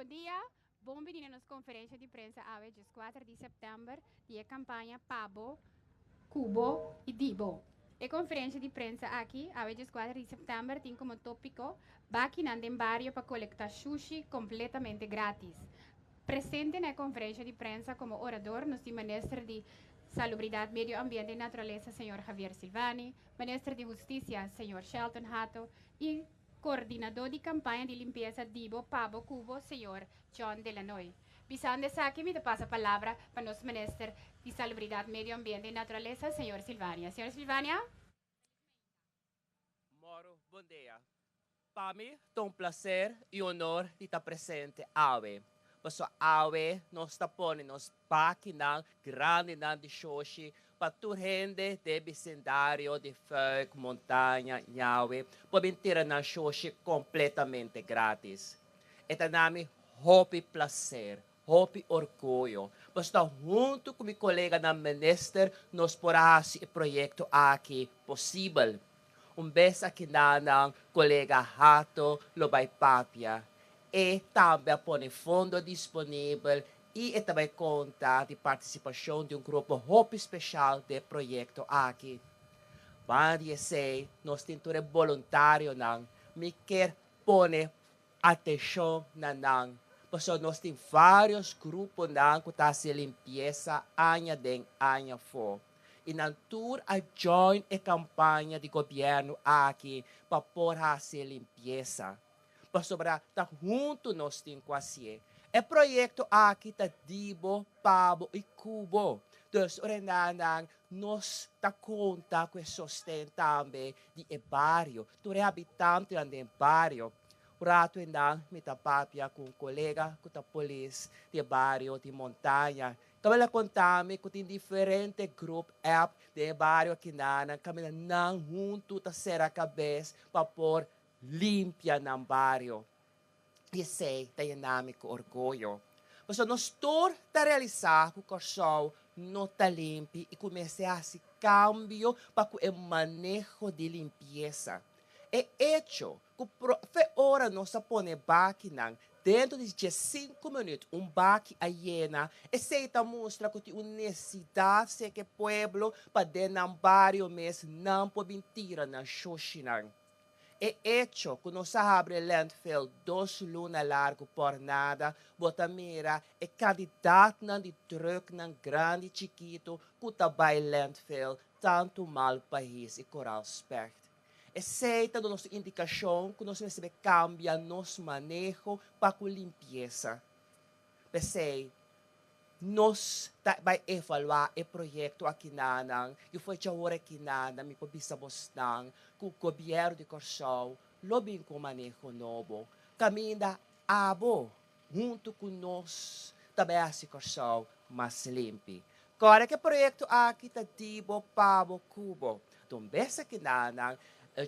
Bon dia! Bon bini na nos konferensha di prensa awe djeskuater di sèptèmber di e kampaña Pa bo. cu bo y di bo. E conferencia di prensa aki, awe diescuater di september, tin como topico Bakinan den bario pa colecta shushi completamente gratis. Presente na e conferencia di prensa como orador nos tin Minister di Salubridad, Medio Ambiente y Naturaleza, Señor Javier Silvani, Minister di Husticia, Señor Shelton Hato, y. Coordinador di campaña di limpieza dibo pabo cubo señor John Delanoy. Bisando esaki mi ta pasa palabra pa nos minister di salubridad medio ambiente y naturaleza señor Sylvania. Señor Sylvania. Moro bondea. Pa mi ta un placer y honor di ta presente awe. Paso awe nos ta pone nos. Bakinan grandinan di shoshi pa tur hende den bisindario di Fuik, Montaña, Ñawe por bin tira nan shoshi kompletamente gratis. E ta na mi hopi plaser, hopi orguyo. Pasobra huntu ku mi koleganan minister nos por a hasi e proyekto aki posibel. Un bes akinan nan kolega Hato lo bai papia. E tambe a pone fondo disponibel y e ta bay conta di participacion di un grupo hopi special d'e proyecto aki. Banda di esey nos tin tur e boluntarionan, mi kier pone atencion na nan, pasobra nos tin varios gruponan cu ta haci limpiesa aña den aña afo y nan tur a join e campaña di gobierno aki pa por haci limpiesa. Pasobra ta huntu nos tin ku hasié. E proyekto aki ta di bo, pa bo i ku bo. Dus ora e nan nan nos ta konta ku e sosten tambe di e bario, tur e habitantenan den bario. Un ratu endan mi ta papia ku un kolega ku ta polis di e bario di Montaña. Kabal a konta mi ku tin diferente grup app den e bario akinan nan kaminda nan huntu ta sera kabes pa por Limpia nan bario. I esei ta yena mi ku orgoyo. Pasobra nos tur ta realisá ku Kòrsou no ta limpi i ku mester hasi kambio pa ku e maneho di limpiesa. E echo ku profe ora nos a pone e bakinan, dentro di dies sinku minüt un baki a yena, esei ta mustra ku tin un nesidat serka e pueblo pa den nan bario mes nan por bin tira nan shoshinan. E echo cu nos a habri e landfill dos luna largu por nada, bo ta mira e cantidadnan di trucknan grandi, chikito, cu ta bay landfill tantu mal pahis y coral specht. Esey ta do nos indicacion cu nos mester cambia nos maneho pa cu limpieza P'esei, nos ta bai evaluá e proyekto aki nanan i fue dje ora aki nanan mi por bisa bosnan ku Gobièrnu di Kòrsou lo bin ku un maneho nobo kaminda abo huntu ku nos ta bai hasi Kòrsou mas limpi. Kòrda ku e proyekto aki ta di bo pa bo ku bo don bes aki nanan,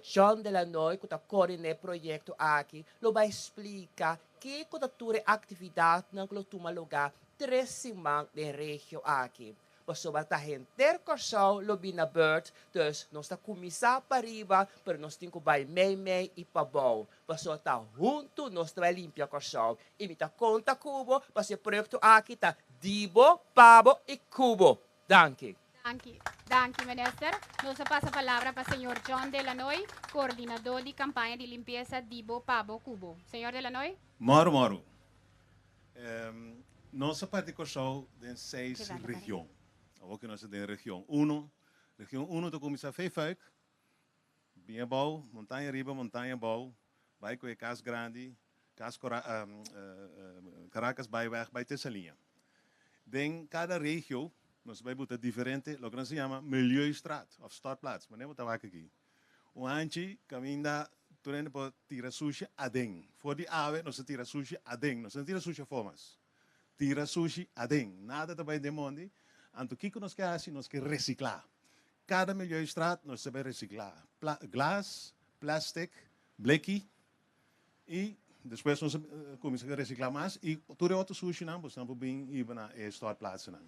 John Delanoy ku ta kòrdin'é proyekto aki lo bai splika Ke ku ta tur e aktividatnan ku lo tuma lugá tres siman den regio aki. Pasobra ta henter Kòrsou lo bin na bèrt, dus nos ta kuminsá pa riba, pero nos tin ku bai meimei i pabou. Paso ta huntu nos ta bai limpia Kòrsou. I mi ta konta ku bo, paso e proyekto aki ta di bo, pa bo i ku bo. Danki. Danki. Danki Minister. Nos a pasa palabra pa Señor John Delanoy, Coordinador di Campaña di Limpieza Dibo, Pabo, Cubo. Señor Delanoy. Moro moro. Nos a parti Curaçao den seis region. Awor cu nos ta den region uno, region uno ta cuminsa Vijverk, Bin abou, montaña riba, montaña abou, bai cu e cas grandi, cas Caracas bai weg bai ta esa liña. Den cada regio nos bai buta diferente loke nos a yama Milieustraat of Stadplaats, mane bo ta wak aki? Un hanchi caminda tur hende por tira sushi aden, for di awe nos a tira sushi aden, nos no tira sushi afó mas. Tira sushi aden. Nada ta bai den mondi. Anto kiko nos ke hasi? Nos ke recicla. Cada Milieustraat nos ta bai recicla. Pla, glas, plastic, bleki y despues nos ta cuminsa cu recicla mas y tur e otro sushinan pues nan por bin hiba na e stortplaatsennan.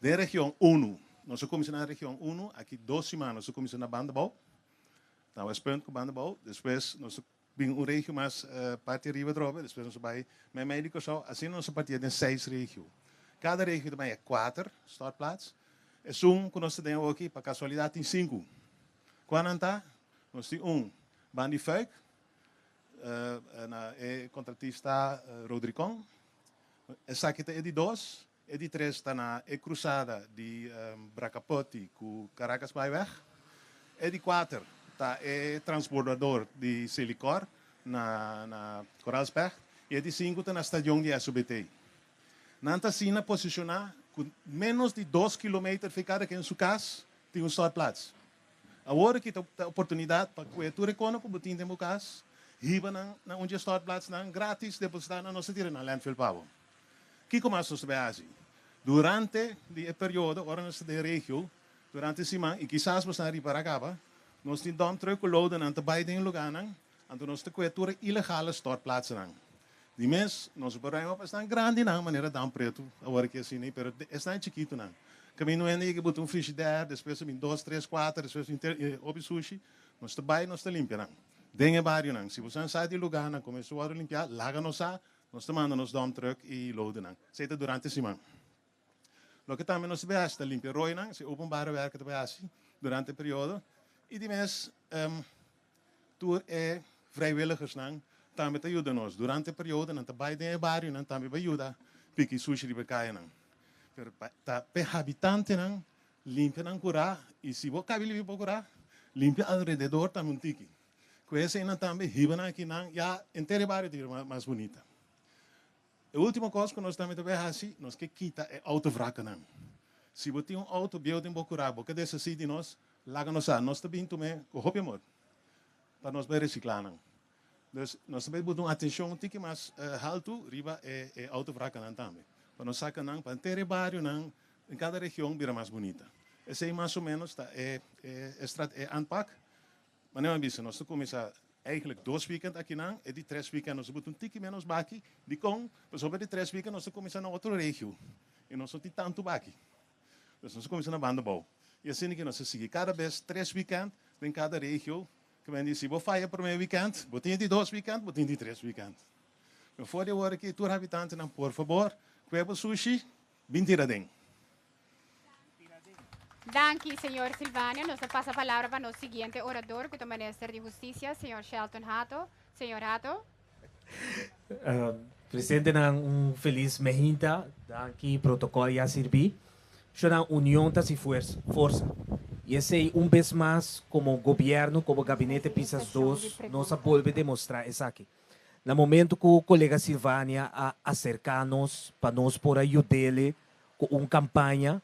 Den region uno, nos a cuminsa na region uno, aki dos siman nos ta cuminsa na Bandabou, na Westpunt cu Bandabou, despues nos ta. Bin un regio mas parti riba drobe i despues nos a bai meimei di Kòrsou. Asina nos a partia den seis regio. Kada regio ta bai e kuater stortplaats. Esun ku nos ta den awoki, pa kasualidat tin sinku. Kua nan ta? Nos tin un Ban di Fuik, na e kontratista Rodricon. Esaki ta e di dos, E di tres ta na e krusada di Bracaputi ku Caracas Byweg. E di kuater ta e transbordador di Selikor na Koraalsberg i e di sinku ta na stadion di SOBT. Nan ta asina posishoná ku ménos di dos kilometer for kada ken su kas tin un stortplats. Awor aki ta e oportunidat pa kue tur e kono ku bo tin den bo kas, hiba nan na un dje stortplatsnan gratis depositá na nos ta tira na landfill pa bo. Kiko mas nos ta bay haci durante di e periodo ora nos ta den regio durante e siman? Y kisas bo sa riba Ragaba nos tin dump truck cu loadennan ta bay den e lugarnan, anto nos ta coe tur e ilegale stortplaatsennan. Di mes nos a berengba pa esnan grandinan manera Dam Pretu awor ki asina y pero esnan chikitonan caminda un hende yega buta un frigidaire despues a bin dos, tres, cuater despues a bin ter hopi sushi nos ta bay nos ta limpia nan den e barionan. Si bo sa sa di e lugarnan como eso worde limpiá laga nos sa. Nos ta manda nos dump truck y loadenan. Esey ta durante e siman. Loke tambe nos ta bay haci ta limpia roinan, esey openbare werken ta bay haci durante e periodo y di mes tur e vrijwilligersnan tambe ta yuda nos. Durante e periodo nan ta bay den e barionan tambe bay yuda piki sushi riba e cayanan. Pero ta pa e habitantenan limpia nan cura y si bo cabe limpia bo cura, limpia alrededor tambe un tiki. Ku heseinan tambe hiba nan akinan ya enter e bario ta bira mas bunita. E ultimo kos ku nos tambe ta bai hasi, nos ke kita e outo vrakennan. Si bo tin un outo bieu den bo kura, bo ke deshasí di nos, laga nos sa. Nos ta bin tuma e ku hopi amor pa nos bai resiklá nan. Dus nos ta bai bota un atenshon un tiki mas haltu riba e outo vrakennan tambe, pa nos saka nan pa enter e barionan, den kada region bira mas bunita. Esei mas o ménos ta e e e aanpak Manera mi a bisa, nos ta kuminsá eigentlik dos weekend akinan, e di tres weekend nos a buta un tiki ménos baki. Dikon? Pasó pa e di tres weekend nos ta kuminsá na otro regio i nos no tin tantu baki. Pues nos a kuminsá na banda bou. I asina ke nos a sigui kada bes tres weekend den kada regio. Ke bai di si bo faya promé weekend, bo tin di dos weekend, bo tin di tres weekend. Pero for di awor aki tur habitantenan, por fabor, kue bo sushi Bin tira den. Danki señor Silvania. Nos ta pasa palabra pa nos siguiente orador cu ta minister di Husticia, señor Shelton Hato. Señor Hato. Presentenan un feliz mehinta. Danki protocol ya sirbi. Shunank union ta si forsa. Y esey un bes mas como gobierno como gabinete pisas dos nos a bolbe demostra esaki. Na momento cu colega Sylvania a acerca nos pa nos por a yudele cu un campaña,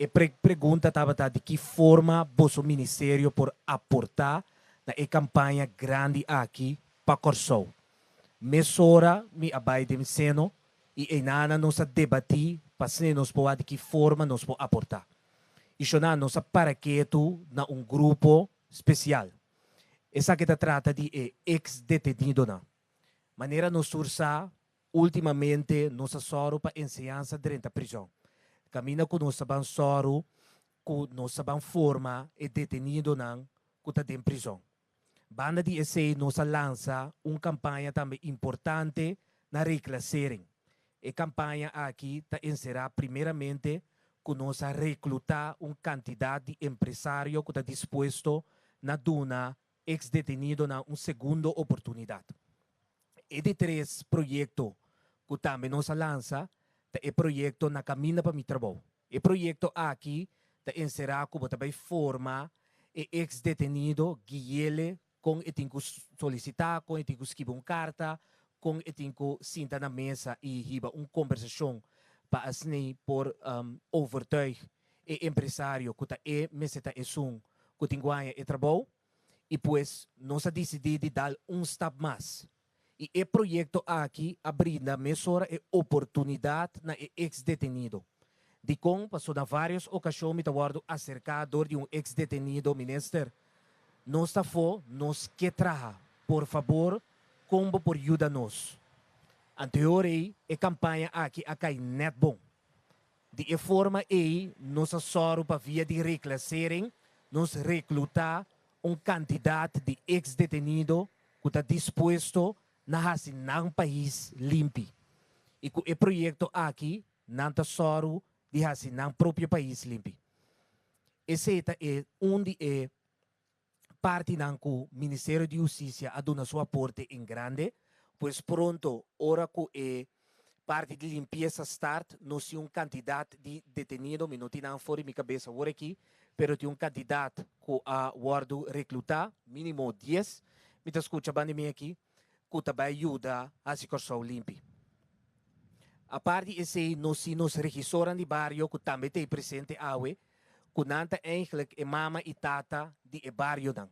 e prek pregunta tabata di ki forma boso ministerio por aporta na e campaña grandi aki pa Corsou. Mesora mi a bay den seno y eynana nos a debati pa sne nos por a di ki forma nos por aporta. Y shona nos a para ketu na un grupo special. Esaki ta trata di e ex-detenidonan. Manera nos tur sa, últimamente nos a sòru pa enseñansa drenta prizòn. Kaminda ku nos ta ban sòru ku nos ta ban forma e detenidonan ku ta den prizòn. Banda di esei nos a lansa un kampaña tambe importante na reklasering. E kampaña aki ta enserá primeramente ku nos a reklutá un kantidat di empresario ku ta dispuesto na duna eks-detenidonan un segundo oportunidat. E di tres proyekto ku tambe nos a lansa ta e proyekto Na Kaminda pa Mi Trabou. E proyekto aki ta enserá ku bo ta bai forma e eks-detenido Guiele kon e tin ku solisitá, kon e tin ku skiba un karta, kon e tin ku sinta na mesa i hiba un kombersashon pa asni por overtuig e empresario ku ta e mester ta esun ku tin ku haña e trabou i pues nos a disidí di dal un stap mas. y e proyecto aki a brinda mesora e oportunidad na e ex-detenido. Dicon, paso na varios ocasion mi ta wordo acerca door di un ex-detenido, Minister, nos ta afo, nos ke traha, por fabor con bo por yuda nos? Antehoor ey e campaña aki a cay net bon. Di e forma ei nos a sòru pa via di reklasering nos reklutá un kantidat di eks detenido ku ta dispuesto na hasi nan pais limpi. I ku e proyekto aki nan ta sòru di hasi nan propio pais limpi. Esei ta e un di e partinan cu Ministerio di Husticia a duna su aporte en grande, pues pronto ora cu e parti di limpiesa start nos tin un cantidad di detenido, mi no tin nan for di mi cabeza awor aki, pero tin un cantidad cu a wordo recluta, minimo dies, mi ta scucha bandimi aki. cu ta bay yuda haci Corsou limpi. Apart di esey nos tin nos regisornan di bario cu tambe ta ey presente awe, cu nan ta eindelijk e mama y tata di e barionan.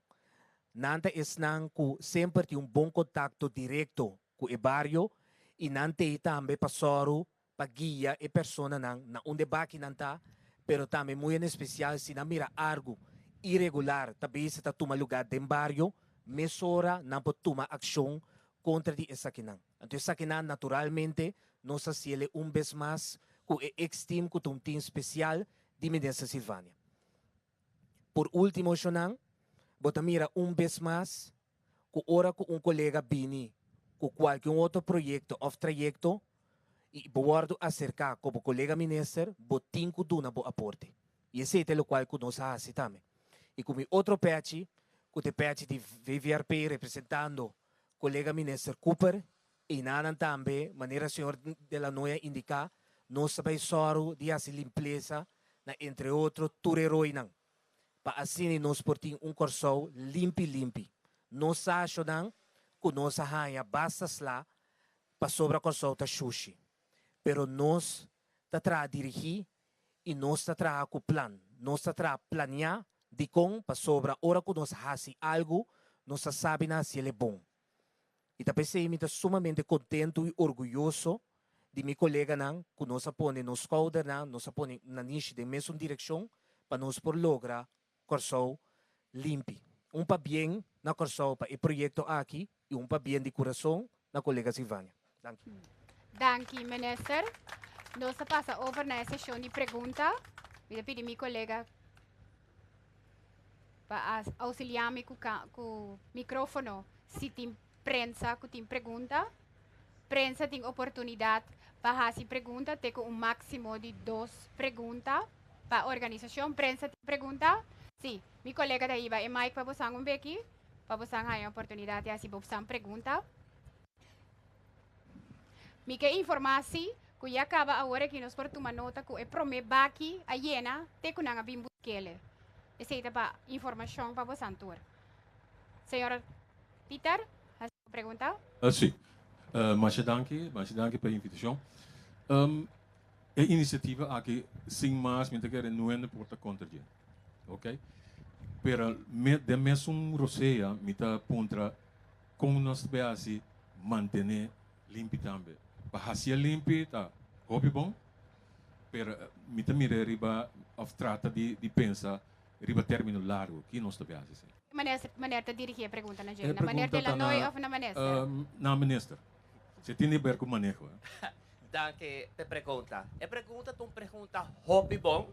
Nan ta esnan cu semper tin un bon contacto directo cu e bario y nan ta ey tambe pa soru pa guia e personanan na unda e bakinan ta, pero tambe muy en especial si nan mira argu iregular ta bese ta tuma lugar den bario, mesora nan por tuma accion contra di esakinan. Anto esakinan naturalmente nos a haciele un bes mas cu e X-Team cu ta un team special di Minister Sylvania. Por ultimo eshonan, bo ta mira un bes mas cu ora cu un colega bini cu cualke un otro proyecto of trayecto y bo wordo acerca cu bo colega minister bo tin cu duna bo aporte y esey ta locual cu nos a haci tambe y cu mi otro pechi cu ta e pechi di VVRP representando colega minister Cooper y nanan tambe manera señor De La Noya indica nos ta bay zorgo di haci limpleza na entre otro tur e roinan. pa asini nos por tin un Kòrsou limpi limpi. Nos sashonan ku nos a haña basta sla pasobra Kòrsou ta shushi. Pero nos ta traha dirigí i nos ta traha ku plan. Nos ta traha planiá dikon pasobra ora ku nos hasi algu nos ta sabi na hasiel e bon. I ta p'esei mi ta sumamente kontentu i orguyoso di mi koleganan ku nos a pone nos skoudernan, nos a pone na nishi den mesun direkshon pa nos por logra Kòrsou limpi. Un pabien na Kòrsou pa e proyekto aki i un pabien di kurason na kolegas Ivania. Danki. Danki minister. Nos ta pasa over na e sesion di pregunta. Mi ta pidi mi colega pa auxilia mi cu, cu microfono si tin prensa cu tin pregunta. Prensa tin oportunidad pa haci pregunta te cu un maximo di dos pregunta pa organisacion. Prensa tin pregunta? Si. Mi colega ta hiba e mic pa bosan un beki pa bosan haya oportunidad di haci bosan pregunta. Mi ke informá si ku ya kaba awor aki nos por tuma nota ku e promé baki a yena te ku nan a bin buskele. Esei ta pa informashon pa bosan tur. Señor Pieter, hasi bo pregunta. Si. Masha danki, masha danki pa e invitashon. E inisiativa aki sin mas mi ta kere no hende por ta kontra dje. Oke. Pero den mes un rosea mi ta puntra. Kon nos ta por hasi mantené limpi tambe? Pa hasié limpi ta hopi bon, pero mi ta mir'é riba òf trata di pensa riba término largu. Ki nos ta por hasi sin? Manester, Maner ta dirigí e pregunta na dje, na Maner de la Nooi òf na Manester? Na Manester. Se tin di ber ku maneho. Danki p'e pregunta. E pregunta ta un pregunta hopi bon.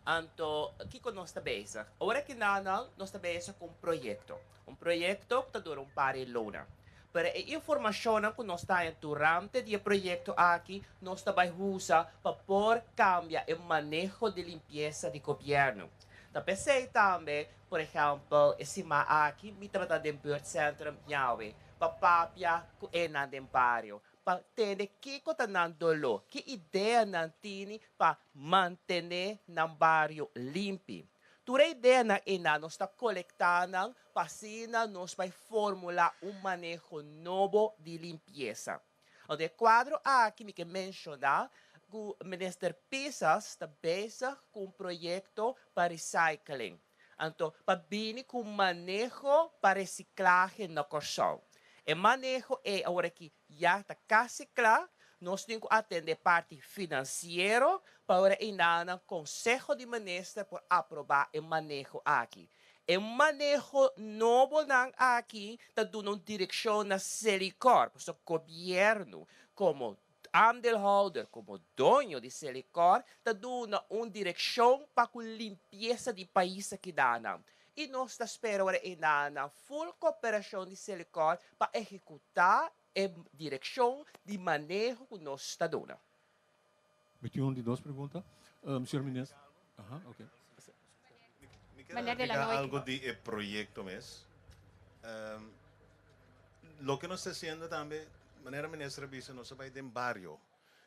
Anto kiko nos ta bezig? Ora kindernan nos ta bezig ku un proyekto. Un proyekto ku ta dura un par e louna. Pero e informashonnan ku nos ta haña durante di e proyekto aki nos ta bai usa pa por kambia e maneho di limpiesa di gobièrnu. Ta p'esei tambe, por ehèmpel, e sima aki mi tabata den Buurtcentrum Yawe pa papia ku enan den bario pa tende kiko ta nan doló, ki idea nan tini pa mantené nan bario limpi. Tur e ideanan einan nos ta kolektá nan pa asina nos bai fórmula un maneho nobo di limpiesa. Lor di e kuadro aki mi ke menshoná ku Minister Pisas ta bezig ku un proyekto pa recycling, anto pa bini ku un maneho pa resiklahe na Kòrsou. E maneho ei aworakí Ya ta casi cla, nos tin cu atende parti financiero pa ora e nanan Conseho di Minister por aproba e maneho aki. E maneho nobonan aki ta duna un direccion na Selicor, pasobra Gobierno como aandeelhouder, como doño di Selicor ta duna un direccion pa cu limpieza di pais ta keda nan. y nos ta spera ora e na nan full cooperacion di Selecor pa ehecuta e direccion di maneho cu nos ta duna. Mi tin un di dos pregunta, Señor Minister. Ahan, ok. Mi quiere explica algo di e proyecto mes. Loke nos ta haciendo tambe, manera Minister a bisa, nos a bay den bario.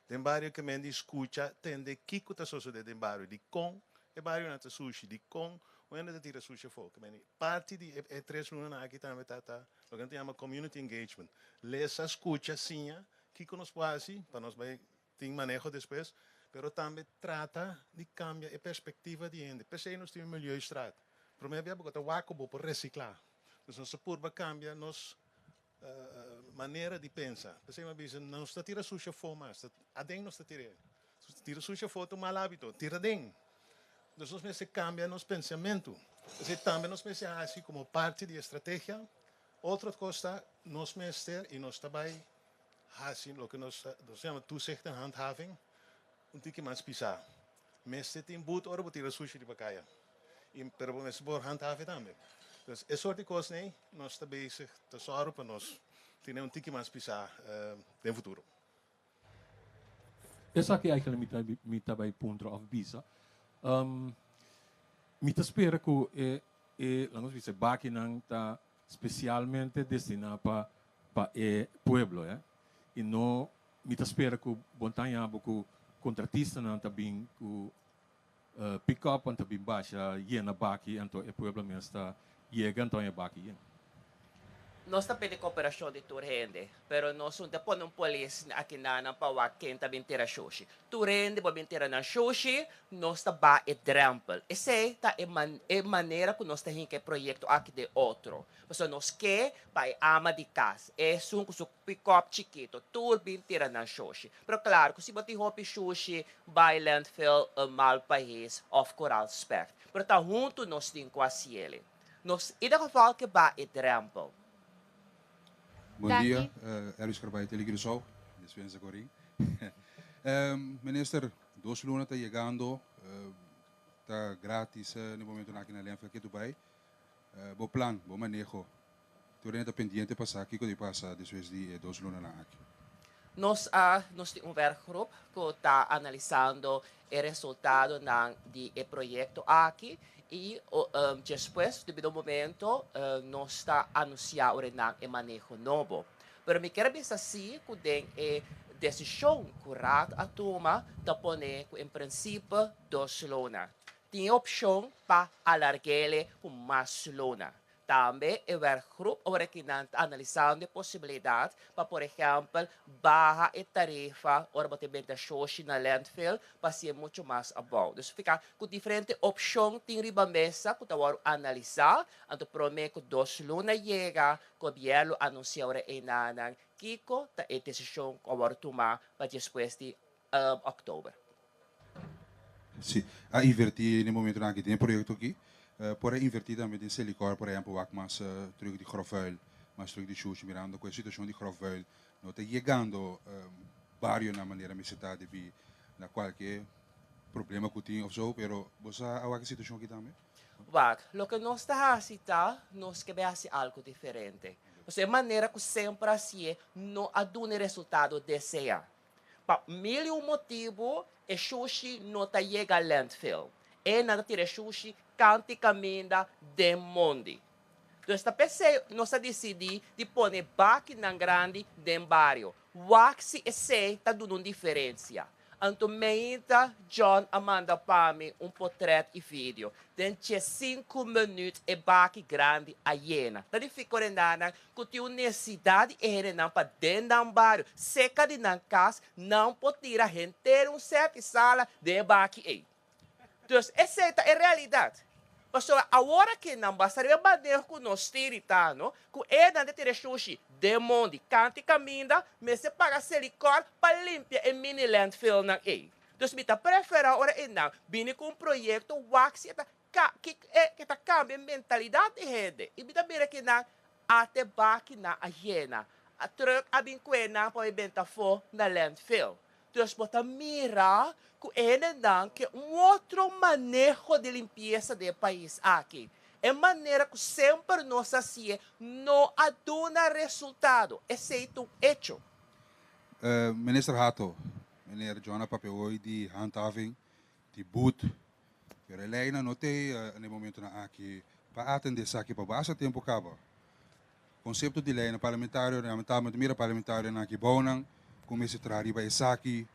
Den bario ke men di skucha tende kiko ta sosode den bario, dikon e barionan ta sushi, dikon un hende ta tira sushi afó. Ke men di parti di e tres lunanan aki tambe ta ta loke nan ta yama community engagement, lesa, skucha, siña kiko nos por hasi pa nos bai tin maneho despues, pero tambe trata di kambia e perspektiva di hende. P'esei nos tin un milieu strat. Promé bia bo kua ta wak ku bo por resiklá. Nos ta purba kambia nos manera di pensa. P'esei mi a bisa, nos ta tira sushi afó mas, ta aden nos ta tira e. Tira sushi afó ta un mal hábito, tira aden. Entonces nos mester kambia nos pensamentu. P'esei tambe nos mester hasi komo parti di e strategia, otro kos ta nos mester i nos ta bai hasi loke nos nos yama toezicht en handhaving un tiki mas pisá. Mester tin but ora bo tira sushi riba kaya y pero bo mester por handhaven tambe. Entonces e sort di cosnan ey nos ta bezig ta zorgo pa nos tene un tiki mas pisa den futuro. Esaki eigenlijk mi ta mi ta bay puntra of bisa. Mi ta spera cu e e laat nos bisa e bakinan ta specialmente destina pa pa e pueblo, eh, y no Mi ta spera ku bon ta haña bo ku kontratistanan ta bin ku pikòpnan ta bin basha yena baki anto e pueblo mes ta yega anto haña baki yen. Nos ta pidi koperashon di tur hende, pero nos un ta pone un polis aki na nan pa wak ken ta bin tira shoshi. Tur hende por bin tira nan shoshi, nos ta ba e drèmpel. Esei ta e e manera ku nos ta hinka e proyekto aki den otro, pasobra nos ke pa e ama di kas, esun ku su Cu cop chikito. Tur bin tira nan shoshi. Pero claro cu si bo tin hopi shushi bay landfill e mal pahes of coral spek. Pero ta hunto nos tin cu a siele. Nos ieder geval ke ba e drempel. Bon dia, Elvis Carbay tele Curacao, Dispensa Corin. Minister, dos luna ta yegando, ta gratis, ni momento naki na Lenfka ke tu bay. Bo plan, bo maneho, Tur hende ta pendiente pa sa kiko di pasa despues di e dos lunanan aki. Nos a nos tin un werkgroep ku ta analisando e resultadonan di e proyekto aki i despues debido momento nos ta anunsiá ora nan e maneho nobo. Pero mi kier bisa si ku den e desishon ku Raad a tuma ta pone ku en prinsipe dos luna. Tin e opshon pa alarg'e le ku mas luna. Tambe e werkgroep orekinan ta analisando e posibilidat pa por ehèmpel baha e tarifa ora bo ta benta shoshi na landfill pa hasi e muchu mas abou. Dus fika ku diferente opshon tin riba mesa ku ta wòrdu analisá, anto promé ku dos luna yega gobièrnu lo anunsiá ora einanan kiko ta e desishon ku a wòrdu tumá pa despues di October. Sí, a invertí den e momentonan aki den e proyecto aki. Por a invertí tambe den Selicor, por ehempel, wak mas terug di grofvuil, mas terug di shushi, mirando cu e situacion di grofvuil no ta yegando barionan manera mester ta debí na cualke problema cu tin of so, pero bo sa a wak e situacion aki tambe? Wak, loke nos ta haci ta nos kebe haci algo diferente. Pasobra e manera cu semper a hacié no a duna e resultado deseá. Pa mil i un motibu e shushi no ta yega landfill. E na ta tira e shushi kanti kaminda den mondi. Dus ta pesey nos a disidí di pone bakinan grandi den bario. Wak si esei ta duna un diferensia. Anto meinta John a manda pa mi un potrèt i video. Den dje sinku minüt e baki grandi a yena. Ta di fico den dana ku tin un nesesidat di e hendenan pa den nan bario, serka di nan kas, nan por tira henter un sèti sala den e baki ei. Dus esei ta e realidat. Pasobra awor ke nan basta riba e baneho ku nos stiritano, ku enan ta tira e shushi den mon di kanti kaminda, mester paga Selikor pa limpia e mini-landfillnan ei. Dus mi ta preferá ora enan bini ku un proyekto wak si e ta Ka, ki e ke ta kambia e mentalidad di hende. I bida mira ki nan a te baki nan a yena. A truck a bin kue nan pa e benta afo na landfill. Dus bo ta mira ku e hendenan ke un otro maneho di limpiesa den e pais aki. E manera ku semper nos a sie no a duna resultado. Esei ta un echo. Minister Hato, Meneer Jonah Papewoi di Handhaving di but. E releynan no ta ei na e momentonan aki pa atende esaki pa basa tempu kaba. Konsepto di leynan parlamentario lamentablemente mira parlamentarionan aki bounan ku mester traha riba esaki.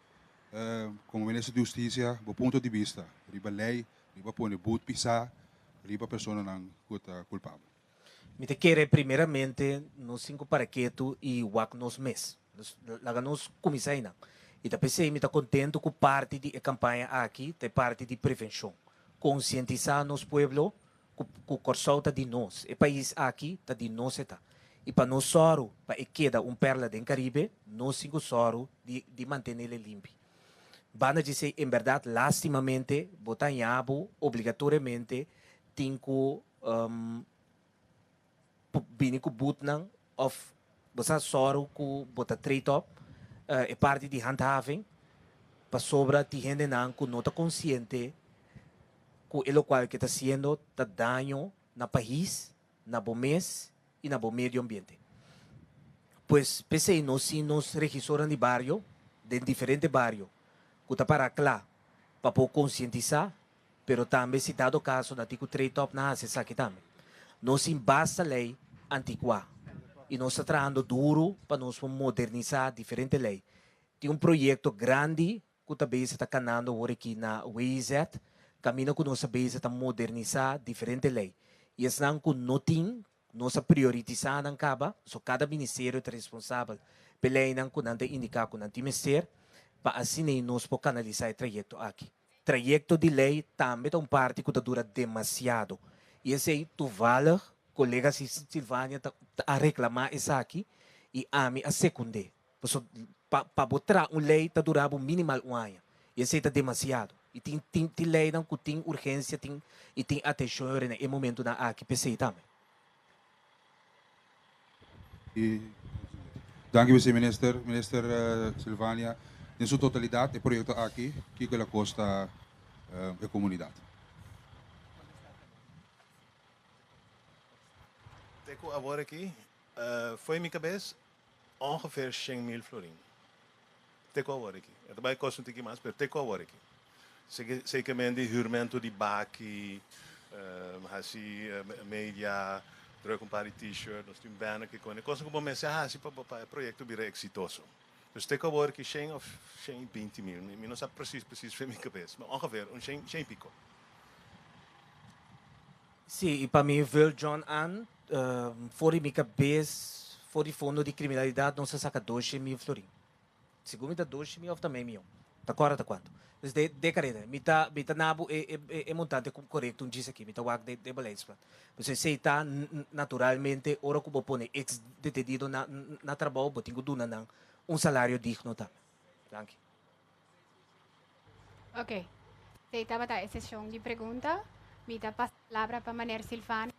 Komo Minister di Hustisia bo punto di bista riba ley riba pone but pisá riba personanan ku ta kulpabel? Mi ta kere primeramente nos tin ku para ketu i wak nos mes. Dus laga nos kuminsá einan. I ta p'esei mi ta kontentu ku parti di e kampaña aki ta e parti di prevenshon, konsientisá nos pueblo ku ku Kòrsou ta di nos, e pais aki ta di nos e ta. I pa nos sòru pa e keda un pèrla den Karibe, nos tin ku sòru di di mantenel e limpi. Banda dj'esei en bèrdat lástimamente bo ta haña bo obligatoriamente tin ku bini ku butnan of bo sa sòru ku bo ta treat op e parti di handhaving pasobra tin hendenan ku no ta konsiente ku e lokual ke ta siendo ta daño na pais, na bo mes i na bo medio ambiente. Pues p'esei nos tin nos regisornan di bario den diferente bario ku ta para kla pa por konsientisá Pero tambe si dado caso na tin cu treetop na haci esaki tambe. Nos tin basta ley anticuá y nos ta trahando duro pa nos por modernisá diferente ley. Tin un proyecto grandi cu ta bezig ta canando awor aki na WIZ, caminda cu nos ta bezig ta modernisá diferente ley. Y esnan cu no tin, nos a prioritisá nan caba, so cada ministerio ta responsabel p'e leynan cu nan ta indica cu nan tin mester, pa asin'ei nos por canalisá e trayecto aki. Trayekto di lei tambe ta un parti ku ta dura demasiado i esei tuvallig kolega Silvania ta a reklamá esaki i ami a sekund'é. Paso pa pa bo tra un lei ta dura bo minimal un aña i esei ta demasiado i tin tin tin leinan ku tin urgensia tin i tin atenshon yòrda na e momentunan aki p'esei tambe. Danki mesey minister, minister Sylvania den su totalidat e proyekto aki kiko el a kosta e komunidat? Te ku awor aki fo'i mi kabes. Ongeveer shen mil florin. Te ku a wòrdu aki? E ta bai kos un tiki mas, pero te ku a wòrdu aki? Sekemente hürmento di baki, hasi media, drùk un par di T-shirt, nos tin un banner, kikon. E kosnan ku bo mester hasi pa e proyekto bira eksitoso. Dus te ku a wòrdu aki? Shen òf shen i binti mil? Mi no sa presis presis, fen mi kabes, pero ongeveer un shen, shen i piko. Sí, i pa mi Virl John Ann, for di mi kabes, for di fondo di kriminalidat nos a saka doshe mil florin. Sigur mi ta doshe mil of ta mei mion, ta kòrda ta kuantu. Dus de de kareda mi ta mi ta nabu e e e montante ku korekto un djis aki, mi ta wak den den beleidsblad. Pues esei ta naturalmente ora ku bo pone eks detenido na na trabou bo tin ku duna nan un salario digno tambe. Danki. Ok, t'ei tabata e sesion di pregunta. Mi ta pasa palabra pa Maner Silvano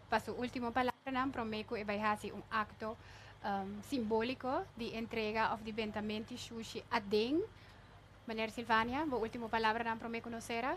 pa su ultimo palabranan prome cu e bai haci un acto um, simbolico di entrega of di bentamenti shushi aden. Maner Silvania, bo ultimo palabranan prome cu nos cera.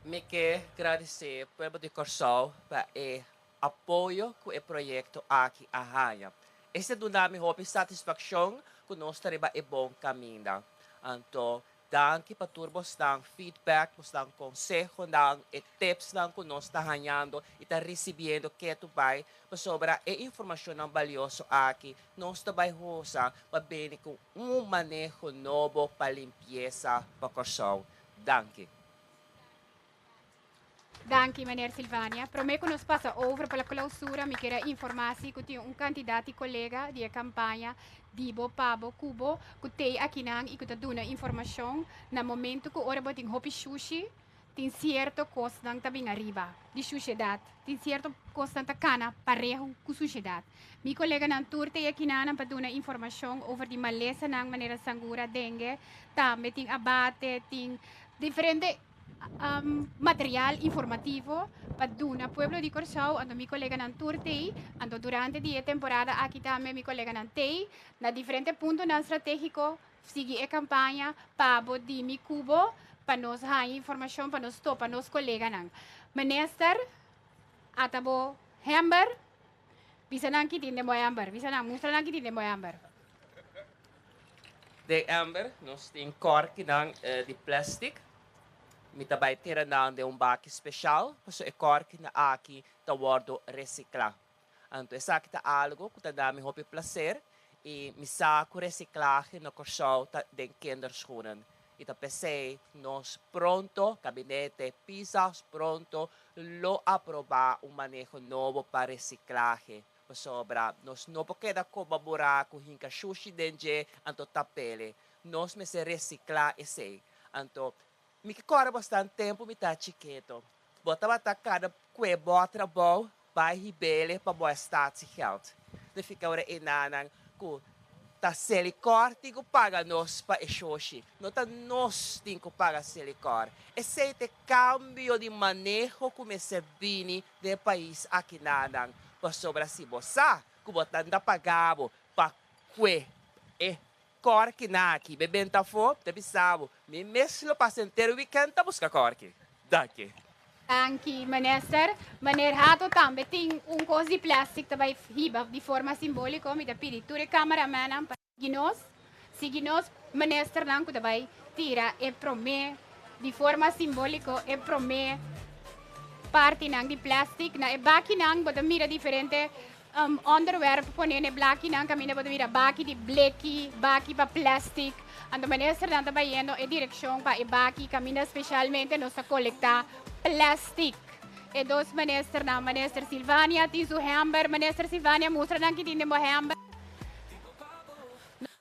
Mi ke gradicé pueblo di Corsou pa e apoyo ku e proyekto aki a haña. Este duna mi hopi satisfakshon ku nos ta riba e bon kaminda. Anto, danki pa tur bosnan feedback, bosnan konsehonan, e tipsnan ku nos ta hañando i ta risibiendo ketu bai, pasobra e informashonnan balioso aki nos ta bai hosa pa bini ku un maneho nobo pa limpiesa pa Kòrsou. Danki. Danki meneer Silvania. Prome ku nos pasa over pa la klausura mi kere informa si ku tin un kantidat di kolega di e kampaña di bo pa bo ku bo ku tei akinan i ku ta duna informashon na momentu ku ora bo tin hopi shushi tin sierto kosnan ta bin ariba di shushedat tin sierto kosnan ta kana parehu ku sushedat. Mi koleganan tur tei akinanan pa duna informashon over di malesanan manera sangura, dengue, tambe tin abate tin diferente. material informativo pa duna pueblo di Kòrsou anto mi koleganan tur tei anto durante di e temporada aki tambe mi koleganan tei na diferente puntonan stratégiko sigui e kampaña pa bo dimi ku bo pa nos haña informashon pa nos topa nos koleganan minister ata bo hèmber Bisa nan ki tin den bo èmber. Bisa nan, mustra nan ki tin den bo èmber. Den èmber nos tin kòrkinan di plèstik. Mi ta bai tira nan den un baki speshal pasobra e kòrkinan aki ta wòrdu resiklá. Anto esaki ta algu ku ta nami hopi plaser i mi sa ku resiklahe na Kòrsou ta den kinderschoenen. I ta p'esei nos pronto, Gabinete Pisas pronto lo aprobá un maneho nobo pa resiklahe, pasobra nos no por keda koba burá ku hinka shushi den dje, anto ta pele nos mester resiklá esei. Anto mi ke kòrda bosnan tempu mi ta chiketo. Bo tabata kada kue bo a trabou bai hibele pa bo a statiegeld. Te fika ora enanan ku ta Selikor tin ku paga nos pa e shoshi. No ta nos tin ku paga Selikor. Esei ta e kambio di maneho ku mester bini den e pais aki nanan. Pasobra si bo sa ku bo ta nda pagabo pa kue e Corky na aki, be benta afó, ta bisabu, mi mes lo pasa enter weekend ta busca Corky. Daki. Danki Minister. Meneer Hato tambe tin un cos di plastic ta bay hiba di forma simbolico. Mi ta pidi tur e cameramennan pa sigui nos, sigui nos Ministernan cu ta bay tira e prome di forma simbolico e prome partinan di plastic na e bakinan. Bo ta mira diferente. Onderwerp, Pon'é e blakinan kaminda bo ta bira baki di bleki, baki pa plèstik. Anto Ministernan ta bayendo e direkshon pa e baki kaminda speshalmente nos ta kolektá plèstik. E dos Ministernan, Minister Silvania tin su hèmber. Minister Silvania, mustra nan kitin den bo hèmber.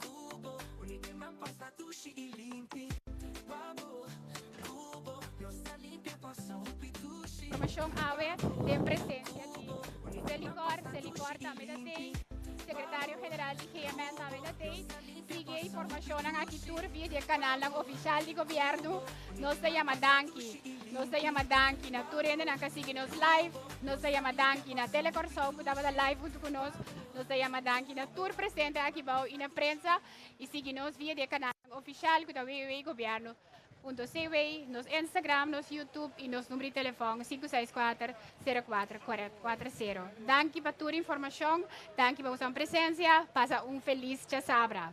Cubo, uni den man pasta dushi y limpi pa bo Cubo, nos ta limpia pa su hopi dushi Promoshon awe den presencia di Selicor, Selicor tambe ta tey, Secretario General di GMN tambe ta tey. Sigui e informacionnan aki tur via di e canalnan oficial di Gobierno. Nos ta yama danki. Nos ta yama danki na tur hende nan ca sigui nos live. Nos ta yama danki na Tele Corsow cu tabata live hunto cu nos. Nos ta yama danki na tur presente aki bou y na prensa y sigui nos via di e canalnan oficial cu ta www.gobierno.cw, nos Instagram, nos YouTube y nos number di telefon sinku seis kuater, sero kuater, kuater, kuater sero. Danki pa tur informacion, danki pa boso presencia, pasa un feliz chasabra.